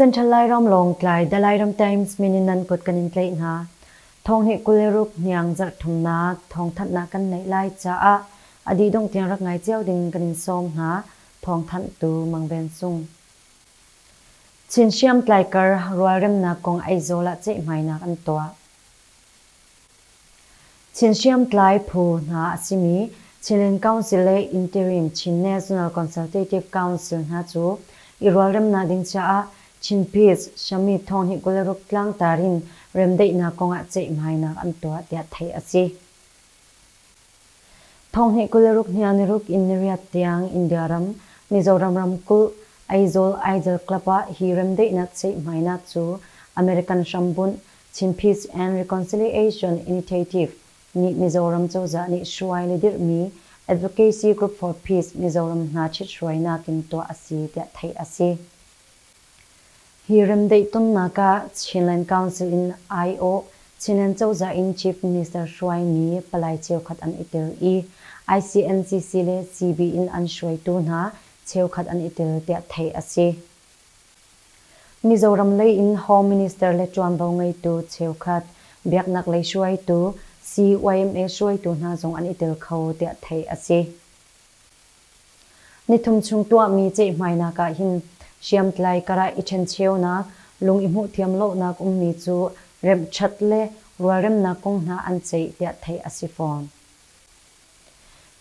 Central Lairam lawng tlai The Lairam Times min in nan kut kan in tlaih hna. Thawng hi kul le ruk hniang zarhthumnak thawngthanhnak kan neih lai caah a dih dongh tiang rak ngai cio ding kan in sawm hna. Thawngthanh tu Mang Ven Sung. Chin hriamtlai kar rualremnak kong Aizawl ah ceihmainak an tuah. Chin hriamtlai phu hna a simi Chin Council le Interim Chin National Consultative Council hna cu i rualremnak ding caah Chin Peace Summit thawng hi Kawlruk tlangtar in remdaihnak kongah ceihmainak an tuah tiah theih a si. Thonghnih kul le ruk hnih ah niruk in niriat tiang India ram, Mizoram ramkulh, Aizawl Idol Club ah hi remdaihnak ceihhmainak cu American hrambunh Chin Peace and Reconciliation Initiative nih Mizoram cozah nih hruai le dirhmi Advocacy Group for Peace Mizoram hna ṭhithruainak in tuah a si tiah theih a si. Hi remdaih tonnak ah Chinland Council in aiawh Chinland cozah in Chief Minister hruaimi palai cheukhat an i tel i ICNCC le CB in an hruaitu hna cheukhat an i tel tiah theih a si. Mizoram lei in Home Minister le ṭuanvo ngeitu cheukhat, biaknaklei hruaitu, CYMA hruaitu hna zong an i tel kho tiah theih a si. Nithum chung tuahmi cehhmainak ah hin hriamtlai karah i ṭhencheunak, lung i hmuhthiam lonak ummi cu remhṭhat le rualremnak kong hna an ceih tiah theih a si fawn.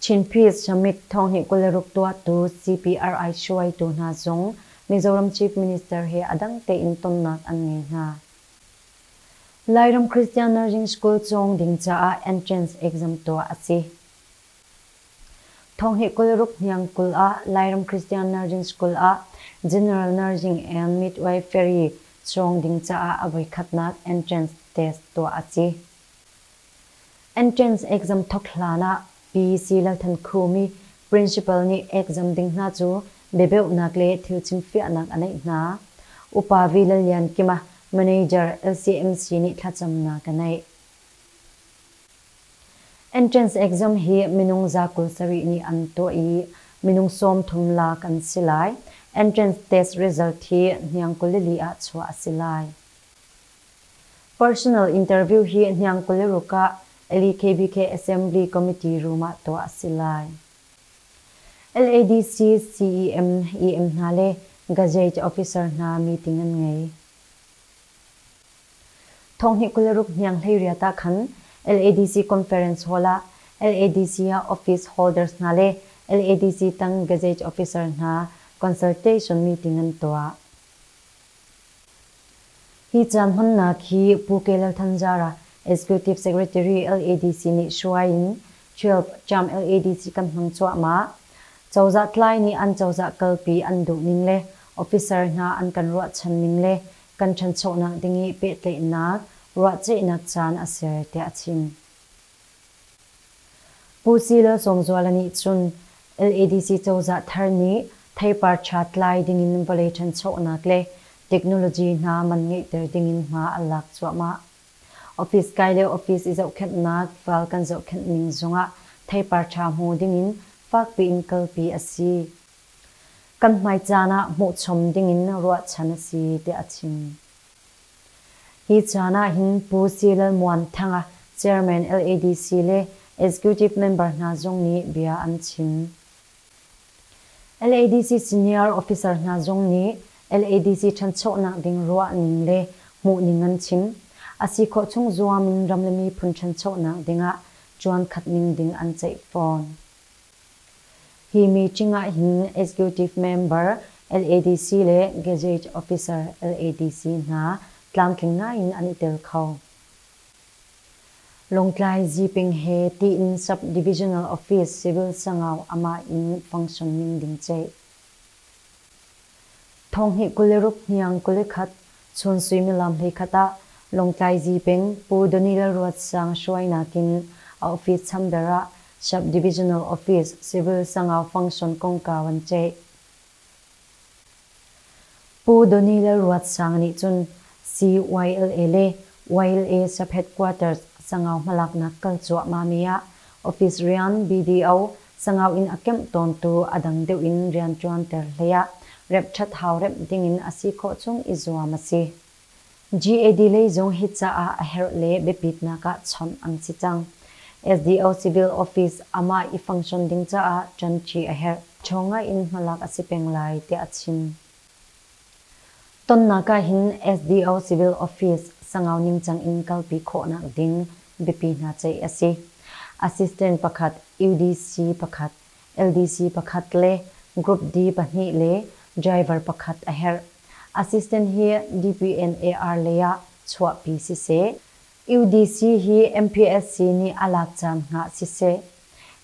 Chin Peace Summit thonghnih kul le ruk tuahtu CPRI hruaitu hna zong Mizoram Chief Minister he a dang tein tonnak an ngei hna. Lairam Christian Nursing School cawng ding caah entrance exam tuah a si. Thawng hi kul ruk hniang kul ah Lairam Christian Nursing School ah General Nursing and Midwifery cawng ding caah a voikhatnak entrance test tuah a si. Entrance exam thawk hlan ah Pi Si Lalthan Khumi principal nih exam ding hna cu biabeuhnak le thil chimfiahnak a neih hna. Upa Vi Lal Lian Kim a manager LCMC nih thlacamnak a neih. Entrance Exam hi minung za kul sarih nih an tuah i minung sawm thum lak an si lai. Entrance Test result hi hniang kulili ah chuah a si lai. Personal interview hi hniang kuliruk ah LEKBK Assembly Committee room ah tuah a si lai. LADC, CEM, EM hna le Gazette officer hna meeting an ngei. Thonghnih kul le ruk hniang hleiriat ah khan LADC conference hall ah LADC ah office holders hna le LADC tang gazage officer hna consultation meeting an tuah. Hi cam hmannak hi Pu Kelal Thanjara Executive Secretary LADC nih hruai in 12 jam LADC kan hmang cuahmah. Cozah tlai nih an cozah kalpi an duh ning le officer hna an kan ruahchan ning le kan ṭhanchonak ding i pehtlaihnak ruahceihnak caan a ser tiah a chim. Pu Sihla Zawngzuala nih cun LADC cozah thar nih theipar ṭha tlai dingin vawlei ṭhanchonak le technology hna man ngeihter dingin hma an lak cuahmah. Office kai le office i zohkhenhnak val kan zohkhenh ning zongah theipar ṭha hmu dingin fakpiin kalpi a si kan hmai caan ah hmuhchom dingin ruahchan a si tiah a chim. Hi caan ahhin Pu Si Lal Muan Thanga Chairman LADC le Executive member hna zong nih bia an chim. LADC Senior Officer hna zong nih LADC ṭhanchonak ding ruahning le hmuhning an chim. A si khawh chung zuam in ram le miphun ṭhanchonak dingah ṭuan khatning ding an ceih fawn. Hi meeting ah hin Executive Member LADC le Gazette Officer LADC hna tlamtling ngaiin an i tel kho. Lawngtlai Ziping he tiin Sub-Divisional Office Civil Sangau amah in function ning ding ceih. Thonghnih kul le ruk hniang kul i khat, chun suimilam hleikhat ah Lawngtlaizi peng Pu Donny Lalruatsang hruai nakin a office chamber ah Sub-Divisional Office Civil Sangau Function kongkau an ceih. Pu Donny Lalruatsang nih cun CYLA le YLA Sub-Headquarters Sangau hmalaknak kal cuahmahmi ah office rian BDO Sangau in a kemh tawntu a dang deuh in rianṭuanter hleiah remh ṭhat hau remh dingin a si khawh chung i zuam a si. GAD lei zong hi caah a herh le biapitnak ah chawnh an si cang. SDO Civil Office amah i function ding caah ṭanṭi a herh. Ṭhawnga in hmalak a si peng lai tiah a chim. Tonnak ahhin SDO Civil Office Sangau ningcang in kalpi khawhnak ding biapi hna ceih a si. Assistant pakhat, UDC pakhat, LDC pakhat le Group D pahnih le driver pakhat a herh. Assistant hi DPNAR lei ah chuahpi siseh, UDC hi MPLC nih a lak caan hna siseh,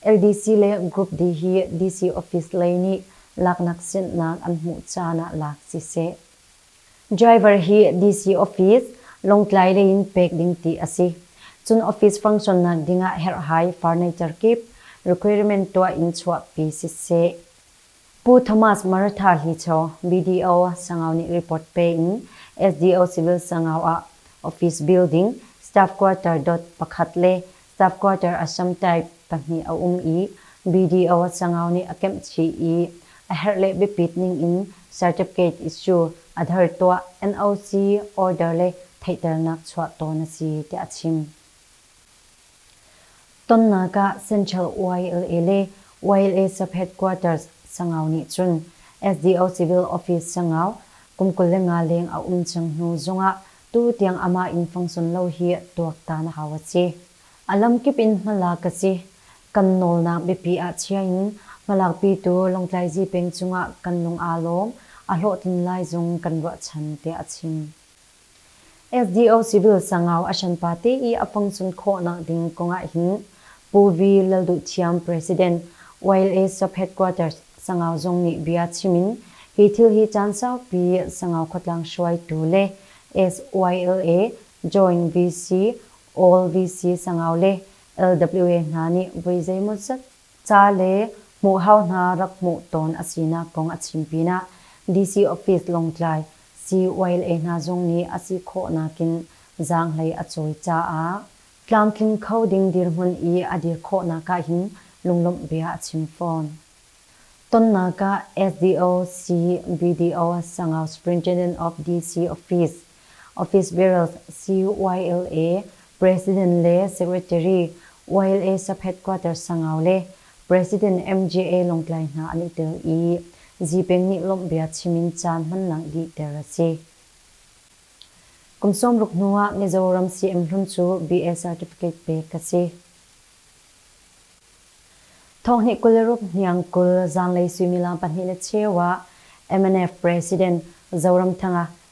LDC le Group D hi DC office lei nih laknak sinhnak an hmuh caan ah lak siseh, driver hi DC office Lawngtlai lei in pek ding ti a si. Cun office function nak ding ah herhhai furniture kip requirement tuah in chuahpi siseh, Pu Thomas Maratha Hlicho, BDO, Sangau nih report pe in SDO Civil Sangau ah office building, staff quarter dot pakhat le staff quarter assam type pahnih a um i BDO Sangau nih a kemh chih i a herh le biapit ning in certificate issue a dher tuah, NOC order le theihternak chuah tawn a si, tiah a chim. Tonnak ah Central YLA le YLA sub-head quarters Sangau nih cun SDO Civil Office Sangau kum kul le nga leng a um cang hnu zongah tutiang amah in fangson lo hi tuaktan a hau a si. A lamkip in hmalak a si. Kan nawlnak biapi ah chia in hmalakpitu Lawngtlaizi peng cungah kan lung aa lawm. A hlawhtlin lai zong kan ruahchan, tiah a chim. SDO civil sangau a hranpa te i a pongchun khawhnak ding kongah hin Pu V. Lalduhthiam President, YLA Sub-Head Quarters Sangau zong nih bia chim in hi thil hi caan saupi Sangau khuatlang hruaitu le SYLA Joint VC, All VC Sangau le LWA hna nih voi zeimawzat ca le hmuhhau hna rak hmuh tawn a sinak kong a chim pinah DC office Lawngtlai CYLA hna zong nih a si khawh nakin zaanghlei a cawi caah tlamtling kho ding dirhmun i a dir khawhnak ah hin lunglawmh bia a chim fawn. Tonnak ah SDO CBDO Sangau Superintendent of DC Office Office Barrels, CYLA, President le Secretary, YLA Sub-Headquarters Sangau le President MJA Lawngtlai hna an i tel i Zipeng nih lawmhbia chim in caan hman langh dih ter a si. Kum sawmruk hnu ah Mizoram CM hlun cu BL Certificate pek a si. Thawhni kul le ruk hniang kul zanlei suimilam pahnih le cheu ah MNF President Zoramthanga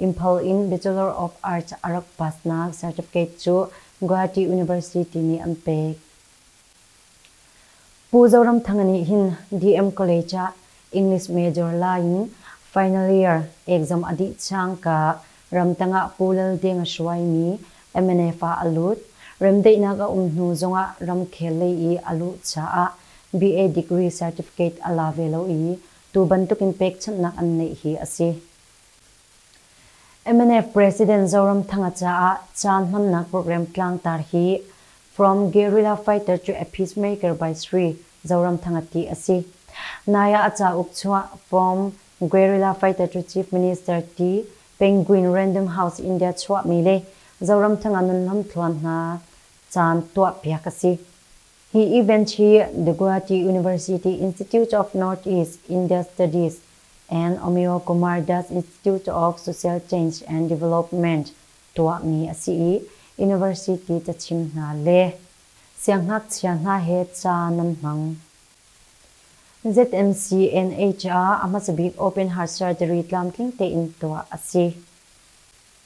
Imphal in Bachelor of Arts a rak passnak certificate cu Guwahati University nih an pek. Pu Zoramthanga nih hin DM College ah English major lai in final year exam a dih cangka ramtang ah Pu Lal Ding a hruaimi mnf ah a lut. Remdaihnak a um hnu zongah ramkhel lei i a luh caah BA degree certificate a la ve lo i tu bantukin pekchanhnak an neih hi a si. MNF President Zoram Thanga caah caan hmannak program tlangtar hi From Guerrilla Fighter to a Peacemaker by Sri Zoram Thanga ti a si. Nai ah a cauk chuah From Guerrilla Fighter to Chief Minister ti Penguin Random House India chuahmi le Zoram Thanga nunhlawm thluan hna caan tuahpiak a si. Hi event hi The Guwahati University Institute of North East India Studies and Omeo Kumar does its Tutor of Social Change and Development tuahmi a si i University cachim hna le siangngakchia hna he ca nan hmang. ZMC NHR a hmasabik Open Heart Surgery tlamtling tein tuah a si.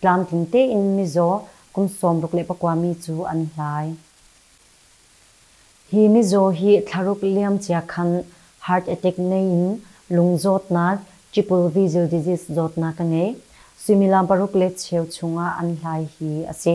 Tlamtling tein mizaw kum sawmruk le pakua mi cu an hlai. Hi mizaw hi thlaruk liamcia khan heart attack nei in lung zawtnak, triple visual disease zawtnak a ngei. Suimilam paruk le cheu chung ah an hlai hi a si.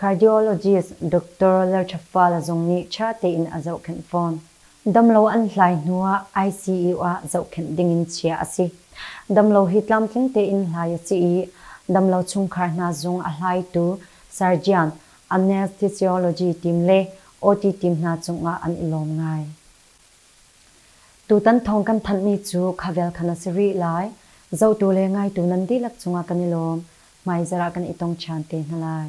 Cardiologist Doctor Lalṭhaffala zong nih ṭha tein a zohkhenh fawn. Damlo an hlai hnu ah ICU ah zohkhenh dingin chiah a si. Damlo hi tlamtling tein hlai a si i, damlo chungkhar hna zung a hlaitu surgeon, anesthesiology team le OT team hna cungah an i lawm ngai. Tutan thawng kan thanhmi cu khavel khan a si rih lai. Zotu le ngaitu nan dihlak cungah kan i lawm. Hmaizarh ah kan i tong ṭhan te hna lai.